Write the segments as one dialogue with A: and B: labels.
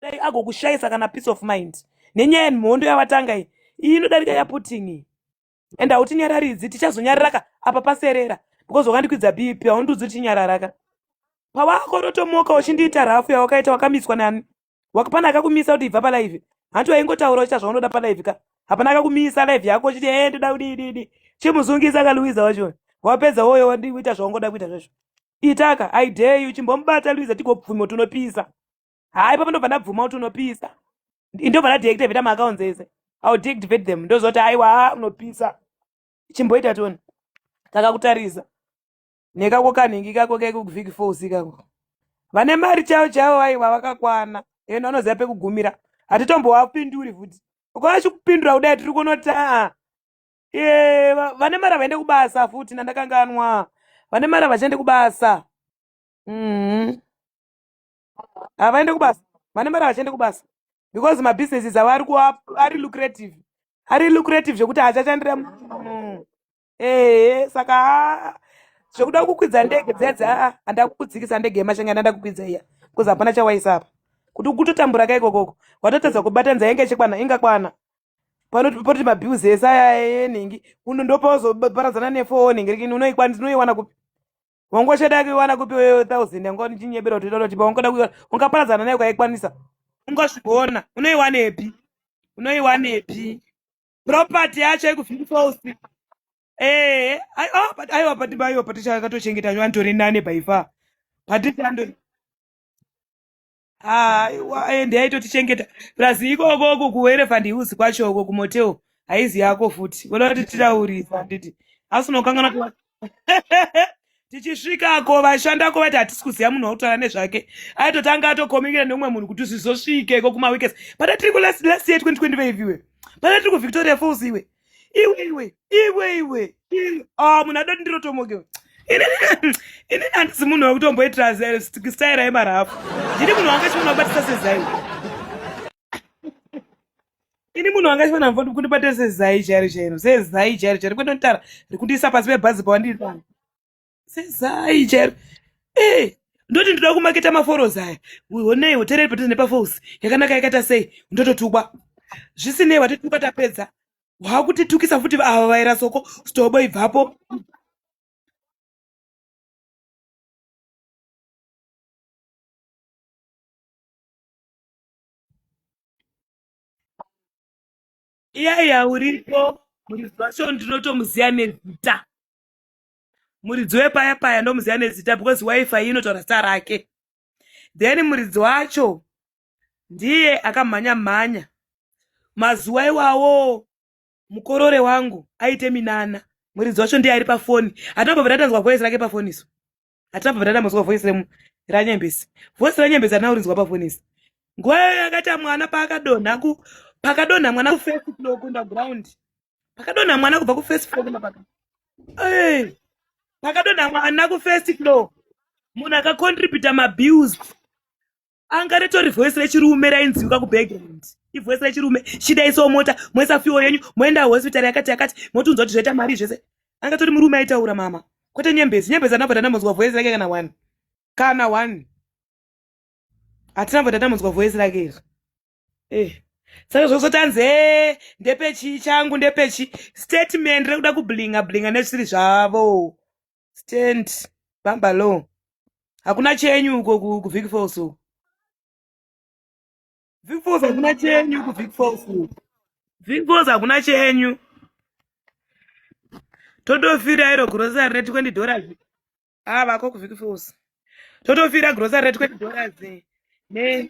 A: dai agokushayisa kana peace of mind nenyaya yenhondo yavatanga iyi iyi inodarika yaputin iyi and hautinyararidzi tichazonyararaka apa paserera because wakandikwidza bp haundiudzi kuti nyararaka pawako rotomoka uchindiita rafu yawakaita wakamiswa nani wakapana akakumisa kuti ibva palive hanti waingotaura uchita zvaunoda palive ka hapana akakumisa live yako uchiti e eh, ndoda kudididi chimuzungisa kaluiza wacho wapedza woyo wandikuita zvaungoda kuita zvazvo itaka idey uchimbomubata luiza tigopfumo tunopisa haa ipapo ndobva ndabvuma kuti unopisa ndobva ndadeactivate maaccounts ese iw deactivate them ndozoti aiwa haa unopisa chimboita toni takakutarisa nekako kanhingi kako kekuviki fos ikako vane mari chavo chavo aiwa vakakwana ende vanoziva pekugumira hatitombowapinduri futi ukavachikupindura kudai tiri kunotaa e vane mari havaende kubasa futi nandakanganwa vane mari havachaende kubasa mm -hmm. havaende kubasa vane mari havachaende kubasa because mabusinesses avo ari kuva ari lucrative ari lucrative zvekuti haachachandira mm. ehe saka ah, zvekuda kukwidza ndege dzedza ah, handida kukudzikisa ndege yemashanga yandanda kukwidza iya bcause hapana chawaisa apa kuti kutotambura ka ikokoko watotadza kubatanidza yanga ichikwana ingakwana panoti mabills ese aya enhingi uno ndopawazoparadzana nefoo nhingi rikini unoikwanisa unoiwana kupi Ungoshada kuiwana kupi wewe thousand yangu ndichinyebera kuti ndoda tipa ungoda kuiwana ungaparadzana nayo kwaikwanisa. Ungozviona unoiwanepi? Unoiwanepi? Property yacho ikufika false. Eh, ai- ah, but aiwa pati baiwa pati chakatochengeta vanhu tori nane by far. Pati chando aiwa ende aitotichengeta plus ikoko uko kuelephant hills kwacho uko kumotel haizi yako futi voda kuti titaurisa handiti asi unokanganwa kuva- tichisvikako vashandako vaiti hatisi kuziva munhu wautaura nezvake aitotanga atokominikira neumwe munhu kuti zvizosvike ko kumaweekends pana tiri kulast year 2025 iwe pana tiri kuvictoria falls iwe iwe iwe iwe iwe ah, munhu adoti ndirotomoke ini handisi munhu wekutomboitira staira yemarafu ndini munhu wanga chiona kubatisa sezai ini munhu wanga chiona mvoti kundibatisa sezai chairo chairo sezai chairo chairo kwete ndotara rikundiisa pasi pebhazi pawandiri pano sezai chero eh ndoti ndoda kumaketa maforosi aya honei hotereri patiri nepafosi yakanaka yakaita sei ndototukwa zvisinei watituka tapedza waakutitukisa futi ava vaera soko stobo ibvapo iyaiya uripo murizvasho ndinotomuziya nezita muridzi wepaya paya ndomuziva nezita because wifi iyi inotaura zita rake then muridzi wacho ndiye akamhanya mhanya mazuva iwawo mukorore wangu aite minana muridzi wacho ndiye ari pafoni hatina kubva tatanzwa voice rake pafoni isu hatina kubva tatamazwa voice ranyembesi voice ranyembesi hatina kurinzwa pafoni isu nguva yayo yakaita mwana paakadonha pakadonha mwana kufaceblock underground pakadonha mwana kubva kufirst floor kumapaka hey. pakadonha mwana kufirst floor munhu akacontributa mabills anga ritori voice rechirume rainziwika kubackground ivoice rechirume chidaisawo mota moisa fiwo yenyu moenda hospitari yakati yakati motunzwa kuti zvaita mari zvese anga tori murume aitaura mama kwete nyembezi nyembezi anabva tanamonzwa voice rake kana one kana one hatinabva tanamonzwa voice rake izvi eh saka zvokusati anzi e ndepechi changu ndepechi statement rekuda kublinga blinga nezvisiri zvavo stand bamba law hakuna chenyu uko kuvik falls uko vik falls hakuna chenyu kuvik falls uko vik falls hakuna chenyu totofira iro grocery re 20 dollars ava ah, ko kuvik falls totofira grocery re 20 dollars ne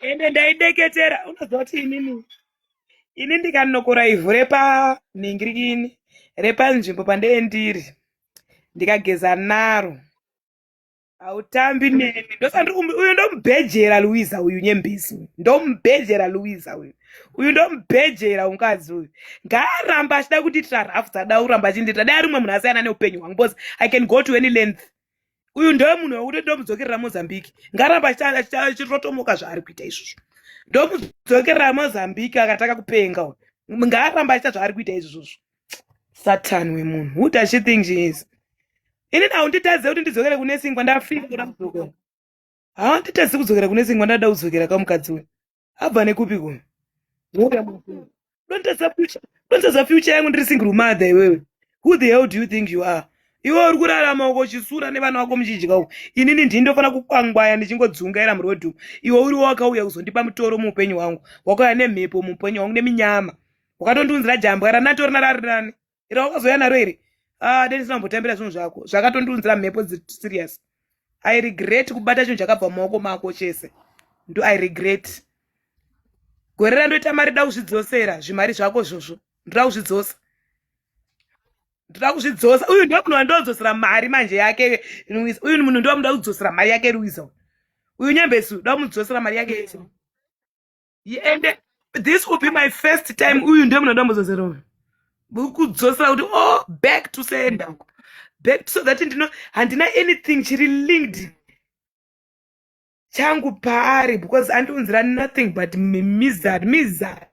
A: ende ndaideketera unoziva kuti inini ini ndikanokora ivhu repanhingirikini repanzvimbo pandee ndiri ndikageza naro hautambi neni ndosandiri um, uyu ndomubhejera luiza uyu nyembisi uyu ndomubhejera luiza uyu uyu ndomubhejera mukadzi uyu ngaaramba achida kutiitira rafu dzadauramba achindiita dai ari umwe munhu asiyana neupenyu hwangu bcause i can go to any length uyu ndewe munhu wekuti ndomudzokerera mozambique ngaramba achirotomoka zvaari kuita izvozvo ndomudzokerera mozambique akataka kupenga ngaramba achiita zvaari kuita izvozvo satan wemunhu who does she think she is ini nau nditadze kuti ndidzokere kune singwa ndafika kuda kudzokera haa nditadze kudzokera kune singwa ndada kudzokera kamukadzi uyu abva nekupi kuno dontaza future yangu ndiri single mother iwewe who the hell do you think you are iwe uri kurarama uko chisura nevana vako muchidya uko inini ndini ndofanira kukwangwaya ndichingodzungaira murodhi uko iwe uriwo wakauya kuzondipa mutoro muupenyu hwangu wakauya nemhepo muupenyu hwangu neminyama wakatondiunzira jambwa ranatorina rarinani ira wakazouya naro iri ah deni sina mbotambira zvinhu zvako zvakatondiunzira mhepo serious i regret kubata chinhu chakabva mumaoko mako chese ndo i regret gore randoita mari da kuzvidzosera zvimari zvako zvozvo ndoda kuzvidzosa ndoda kuzvidzosa uyu ndo munhu wandodzosera mari manje yake luisa uyu munhu ndo muda kudzosera mari yake luisa uyu nyambesu da kumudzosera mari yake yese and this will be my first time uyu ndiye munoda muzozero uyu kudzosera kuti oh back to sender back so that ndino handina anything chiri linked changu paari because andiunzira nothing but mizari mizari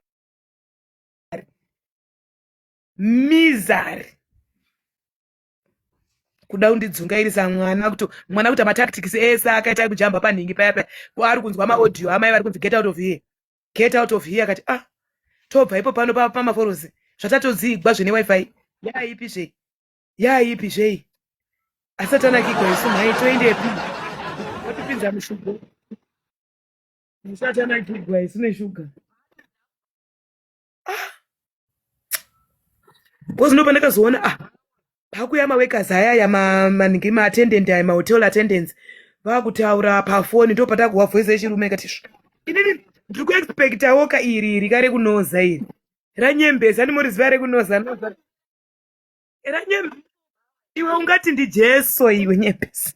A: mizari kuda kundidzungairisa mwana kuto mwana kuita matactics ese akaita ekujamba panhingi paya paya kwaari kunzwa maaudio amai vari kunzi get out of here get out of here akati ah tobva ipo pano pamaforozi zvatatodzigwa zvine wifi yaipi zvei yaipi zvei asati anakigwa isu nhai toendepi watipinza mushuga musati anakigwa isu neshuga bcause ndo pandakazoona ah pakuya mawekazi ayaya maningi maatendent aya mahotel attendance vakutaura pafoni ndo patakuhwa voice yechirume ikati inini ndiri kuexpectawo ka iri iri kare kunoza iri ranyembesa ndimoriziva rekunoza noza ranyembe iwe ungati ndi jesu iwe nyembesi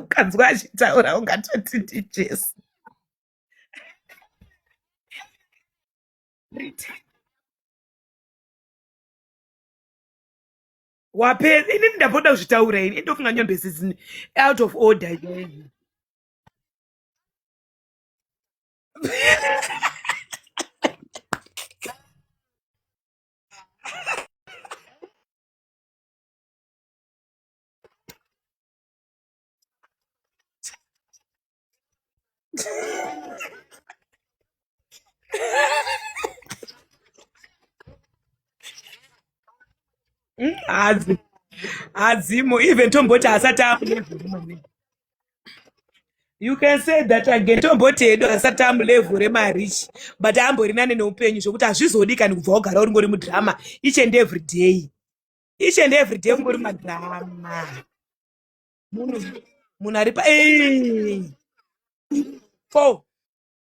A: ukanzwa achitaura ungatoti ndi jesu wapedza inini ndamboda kuzvitaura ini ndofunga nyombe zizini out of order hadzi hadzimo even tomboti asati amulevel you can say that again tomboti hedu asati amulevel remarichi but ambori nane neupenyu zvekuti hazvizodi kani kubva wagara uri ngori mudrama each and every day each and every day ungori madrama munhu munhu ari pa fo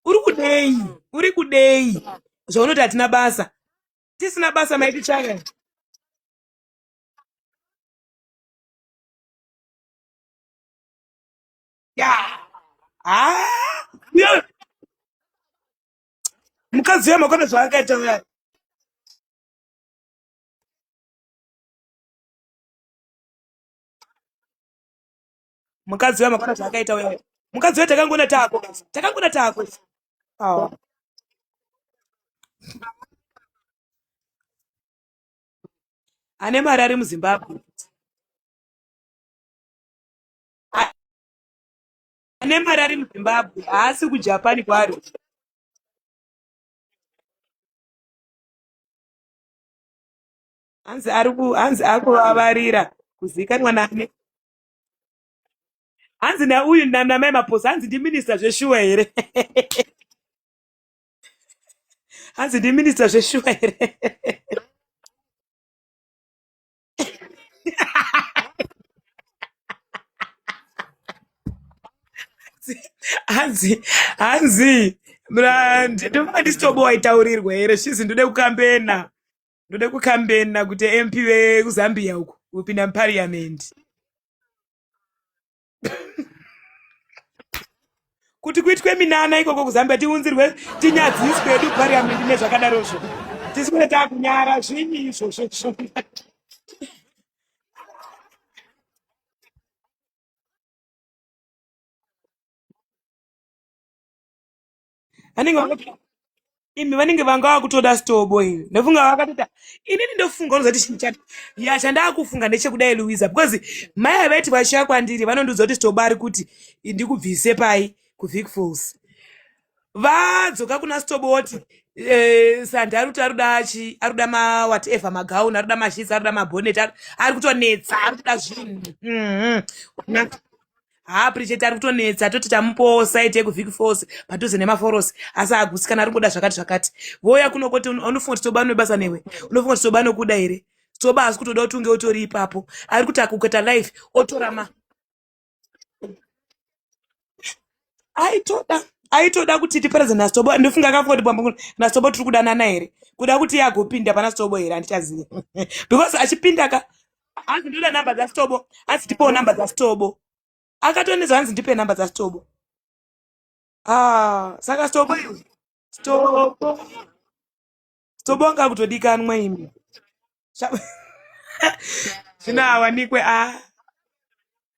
A: uri kudei uri kudei zvaunoti hatina basa tisina basa maiti chaya ya ah! mukadzi uya makona zvaakaita uya mukadzi uya makona zvaakaita uya uya mukadzi uya takangona tako guys takangona tako awa ane mari ari muzimbabwe A- ane mari ari muzimbabwe haasi kujapan kwaari hanzi ari ku hanzi akuvavarira kuzikanwa nani hanzi nauyu namai maposa hanzi ndiminista zveshuwa here hanzi ndiminista zveshuwa here hanzi hanzi ndinofunga ndisitobo waitaurirwa here shizi ndode kukambena ndode kukambena kuti mp vekuzambia uko kupinda muparliament kuti kuitwe minana ikoko kuzambia tiunzirwe tinyadziswe edu parliament nezvakadarozvo tisikuti takunyara zvinyi izvozvo anenge vanga- imi vanenge vanga vakutoda stobo imi ndofunga vakatota inini ndofunga unozoti chinhu chati ya chandakufunga ndechekudai luiza because mai ava vaiti vachiya kwandiri vanondiudza kuti stobo ari kuti ndikubvise pai kuvic falls vadzoka kuna stobo woti eh, sandi ari kuti arikuda chi arikuda ma whatever magauni arikuda mashisi arikuda mabhonet ari ari kutonetsa ari kuda zvinhu Mhm. haa pricheti ari kutonetsa toti tamupowo saiti yekuvhiki force padhuze nemaforosi asi haagusikana ari kungoda zvakati zvakati voya kuno koti un- unofunga kuti soba unebasa newe unofunga kuti soba anokuda here soba hasi kutoda kuti unge utori ipapo ari kuti akuketa life otora ma aitoda aitoda kuti tiparadze nasobo ndofunga akafunga kuti bwambo nasobo tiri kudanana here kuda kuti iye agopinda pana sobo here handichazivi because achipinda ka hanzi ndoda number dzasitobo hanzi ndipewo number dzasitobo akatoneza hanzi ndipe number dzasitobo ah saka sitobo sitobo sitobo anga kutodikanwa imi zvinoawanikwe a ah.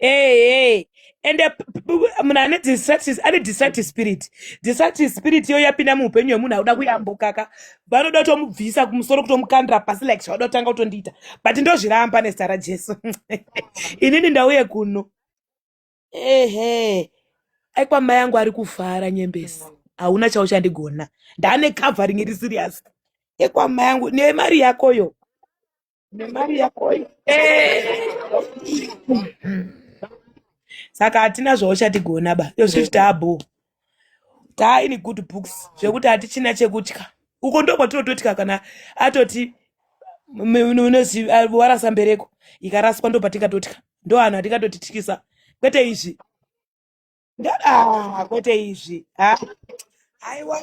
A: Hey, hey. ende p- p- p- munhu ane distracted ane distracted spirit distracted spirit iyo yapinda muupenyu hwemunhu akuda kuyambokaka vanoda kutomubvisa kumusoro kutomukandira pasi like zvavada kutanga kutondiita but ndozviramba nezita rajesu inini ndauye kuno ehe aikwa mai yangu ari kufara nyembesi hauna chauchandigona ndane covering iri serious ekwamai yangu nemari yakoyo nemari yakoyo saka hatina zvauchatigona ba yozviti taabhoo taa ini good books zvekuti hatichina chekutya uko ndokwatinototya kana atoti warasa mbereko ikaraswa ndopatingatotya ndo anhu atingatotityisa kwete izvi ah, kwete izvi ah, aiwa